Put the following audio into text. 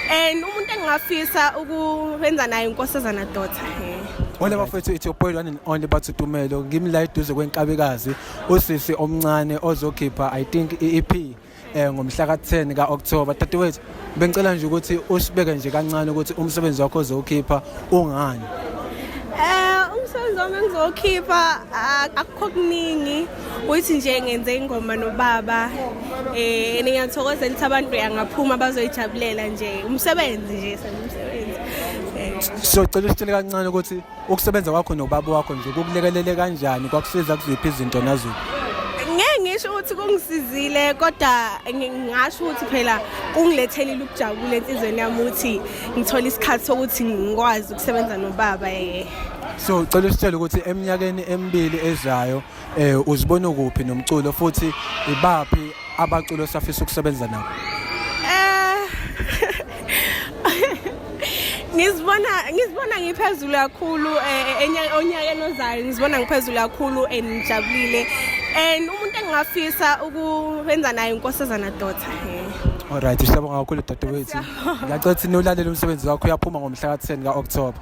and umuntu engingafisa ukwenza naye inkosazana dota Wena bafethu ithi upoil one and only bathi Tumelo ngimla eduze kwenkabikazi usisi omncane ozokhipha I think iEP eh ngomhla ka10 ka October dadewethu bengicela nje ukuthi usibeke nje kancane ukuthi umsebenzi wakho ozokhipha ungani Eh umsebenzi wami engizokhipha akukho kuningi uthi nje ngenze ingoma nobaba eh ningakuthokozela ukuthi abantu beyangaphuma bazoyijabulela nje umsebenzi nje umsebenzi eh. siyocela usitshele kancane ukuthi ukusebenza kwakho nobaba wakho nje kukulekelele kanjani kwakusiza kuziphi izinto naziphi ngeke ngisho ukuthi kungisizile kodwa ngasho ukuthi phela kungilethele ukujabula enhlizweni yami ukuthi ngithola isikhathi sokuthi ngikwazi ukusebenza nobaba eh So cela usitshele ukuthi eminyakeni emibili ezayo eh uzibona kuphi nomculo futhi ibaphi abaculo osafisa ukusebenza nabo? Eh ngizibona ngizibona ngiphezulu kakhulu eh, eh, onyakeni ozayo ngizibona ngiphezulu kakhulu and ngijabulile and umuntu engingafisa ukwenza naye inkosazana daughter eh. Alright, siyabonga kakhulu dadewethu. Ngiyacela ukuthi nolalela umsebenzi wakho uyaphuma ngomhla ka-10 ka-October.